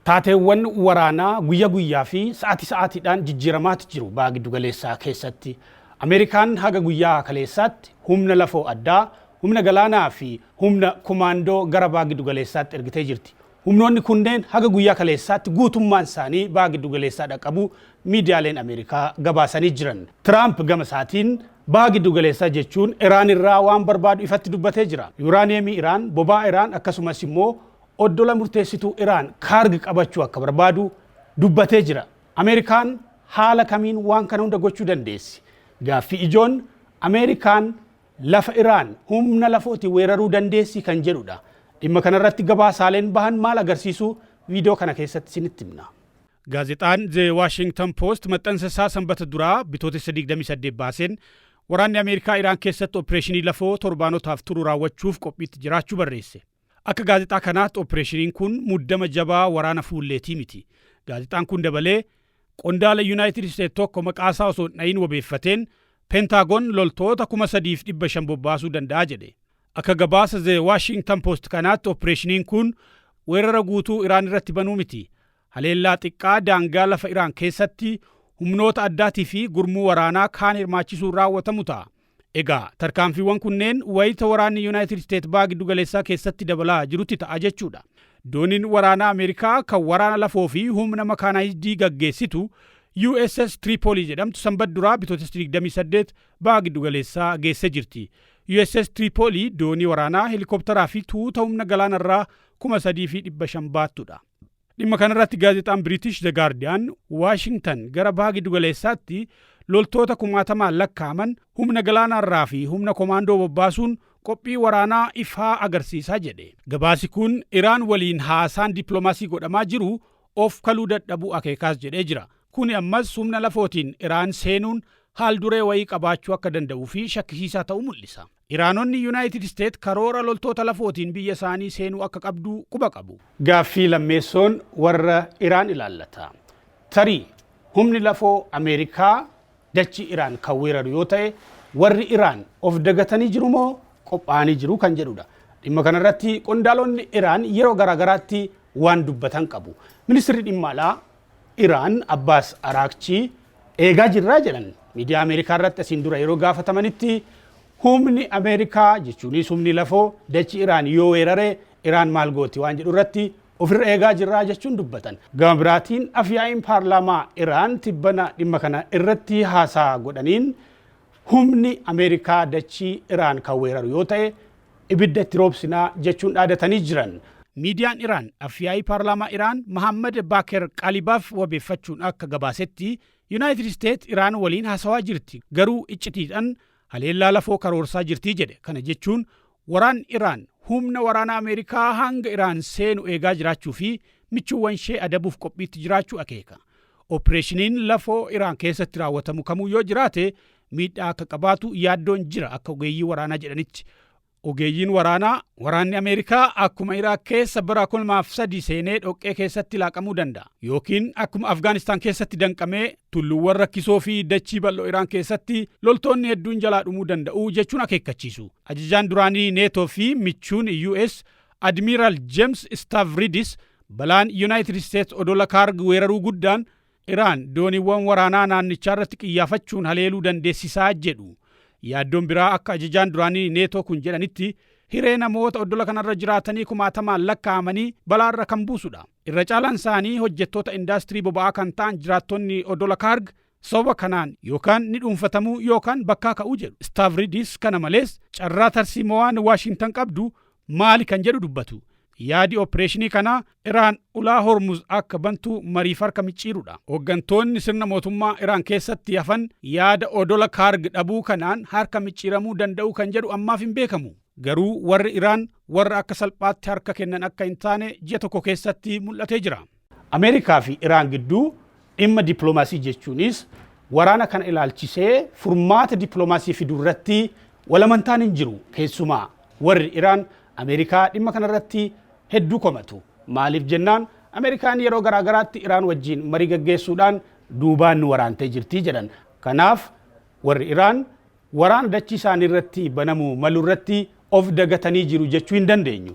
Taateewwan waraanaa guyya guyyaa fi sa'ati sa'aatiidhaan jijjiiramaati jiru Baha Giddugaleessaa keessatti. Ameerikaan haga guyyaa kaleessaatti humna lafoo addaa, humna galaanaa fi humna komaandoo gara Baha Giddugaleessaatti ergitee jirti. Humnoonni kunneen haga guyyaa kaleessaatti guutummaan isaanii Baha Giddugaleessaa dhaqqabuu miidiyaaleen Ameerikaa gabaasanii jiran. Tiraamp gama isaatiin Baha Giddugaleessaa jechuun Iraan irraa waan barbaadu ifatti dubbatee jira. Yuuraaniyeemii Iraan, boba'aa Iraan akkasumas immoo Oddola murteessituu Iraan Kaarg qabachuu akka barbaadu dubbatee jira. Ameerikaan haala kamiin waan kana hunda gochuu dandeessi? Gaaffii ijoon Ameerikaan lafa Iraan humna lafooti weeraruu dandeessi kan jedhudha. Dhimma kanarratti gabaasaaleen bahan maal agarsiisu viidiyoo kana keessatti isinitti himna. Gaazexaan The Washington Post maxxansa isaa Sanbata duraa Bitootessa 28 baaseen waraanni Ameerikaa Iraan keessatti opireeshinii lafoo torbaanotaaf turu raawwachuuf qophiitti jiraachuu barreesse. Akka gaazexaa kanaatti oppireeshiniin kun muddama jabaa waraana fuulleetii miti. Gaazexaan kun dabalee, qondaala Yunaayitid Isteet tokko maqaasaa osoo hin dhahiin wabeeffateen, Pentaagon loltoota 3,500 bobbaasuu danda'a jedhe. Akka gabaasa The Washington Post kanaatti oppireeshiniin kun weerara guutuu Iraan irratti banuu miti. Haleellaa xiqqaa daangaa lafa Iraan keessatti humnoota addaatii fi gurmuu waraanaa kaan hirmaachisuun raawwatamu ta'a. Egaa tarkaanfiiwwan kunneen wayita waraanni Yuunaayitid Isteet Baha Giddugaleessaa keessatti dabalaa jirutti ta'a jechuudha. Dooniin waraanaa Ameerikaa kan waraana lafoo fi humna makaanaayizdii gaggeessitu USS Tripoli jedhamtu Sanbat duraa Bitootessa 28 Baha Giddugaleessaa geessee jirti. USS Tripoli doonii waraanaa, helikoptaraa fi tuuta humna galaanarraa 3,500 baattudha. Dhimma kanarratti gaazexaan Biriitish The Guardian Waashingtan gara baha giddugaleessaatti loltoota kumaatamaan lakkaa'aman humna galaanaarraa fi humna komaandoo bobbaasuun qophii waraanaa ifaa agarsiisa jedhe. Gabaasi kun Iraan waliin haasaan dippiloomaasii godhamaa jiru of kaluu dadhabuu akeekaas jedhee jira. Kuni ammas humna lafootiin Iraan seenuun haal duree wayii qabaachuu akka danda'uu fi shakkisiisaa ta'u mul'isa. Iraanonni Yunaayitid Isteet karoora loltoota lafootiin biyya isaanii seenuu akka qabdu quba qabu. Gaaffii lammeessoon warra Iraan ilaallata. Tarii humni lafoo Ameerikaa dachii Iraan kan weeraru yoo ta'e warri Iraan of dagatanii jiru moo qophaa'anii jiru kan jedhudha. Dhimma kanarratti qondaalonni Iraan yeroo garaagaraatti waan dubbatan qabu. Ministirri Dhimma Alaa Iraan Abbaas Araakchii eegaa jirra jedhan miidiyaa Ameerikaa irratti asiin dura yeroo gaafatamanitti humni Ameerikaa jechuunis humni lafoo dachi Iraan yoo weerare Iraan maal gooti waan jedhu irratti ofirra eegaa jirra jechuun dubbatan. Gama biraatiin afyaa'iin paarlaamaa Iraan tibbana dhimma kana irratti haasaa godhaniin Humni Ameerikaa dachii Iraan kan weeraru yoo ta'e ibidda itti roobsina jechuun dhaadatanii jiran. Miidiyaan Iraan Afyaa'ii Paarlaamaa Iraan Mahaammad Baaker Qaalibaaf wabeeffachuun akka gabaasetti, Yunaayitid Isteet Iraan waliin hasawaa jirti, garuu iccitiidhan haleellaa lafoo karoorsaa jirti jedhe. Kana jechuun Waraan Iraan humna waraanaa Ameerikaa hanga Iraan seenu eegaa jiraachuu fi michuuwwanshee adabuuf qophiitti jiraachuu akeeka. Oppireeshiniin lafoo Iraan keessatti raawwatamu kamuu yoo jiraate miidhaa akka qabaatu yaaddoon jira akka ogeeyyii waraanaa jedhanitti. Ogeeyyiin waraanaa, waraanni Ameerikaa akkuma Iraaq keessa bara 2003 seenee dhoqqee keessatti laaqamuu danda'a. Yookiin akkuma Afgaanistaan keessatti danqamee tulluuwwan rakkisoo fi dachii bal'oo Iraan keessatti loltoonni hedduun jalaa dhumuu danda'u jechuun akeekkachiisu. Ajajaan duraanii Neetoo fi michuun US Admiiraal Jeems Istaavridis balaan Yunaayitid Isteets odola Kaarg weeraruu guddaan Iraan dooniiwwan waraanaa naannichaarratti qiyyaafachuun haleeluu dandeessisaa jedhu. Yaaddoon biraa akka ajajaan duraanii Neetoo kun jedhanitti hiree namoota oddola kanarra jiraatanii kumaatamaan lakkaa'amanii balaarra kan buusudha. Irra caalaan isaanii hojjettoota indaastirii boba'aa kan ta'an jiraattonni odola Kaarg Sababa kanaan yookaan ni dhuunfatamu yookaan bakkaa ka'u jedhu. Stavridis kana malees carraa tarsiimowaan Waashingtan qabdu maali kan jedhu dubbatu. Yaadi oppireeshinii kanaa Iraan ulaa Hormuz akka bantu mariif harka micciirudha. Hoggantoonni sirna mootummaa Iraan keessatti hafan yaada odola Kaarg dhabuu kanaan harka micciiramuu danda'u kan jedhu ammaaf hin beekamu. Garuu warri Iraan warra akka salphaatti harka kennan akka hin taane ji'a tokko keessatti mul'atee jira. Ameerikaa fi Iraan gidduu dhimma dippilomaasii jechuunis waraana kana ilaalchisee furmaata dippilomaasii fiduu irratti walamantaan hin jiru. Keessumaa warri Iraan Ameerikaa dhimma kana irratti hedduu komatu. Maaliif jennaan Ameerikaan yeroo garaa garaatti Iraan wajjin marii gaggeessuudhaan duubaan nu waraantee jirti jedhan. Kanaaf warri Iraan waraana dachii isaanii irratti banamuu malu irratti of dagatanii jiru jechuu hin dandeenyu.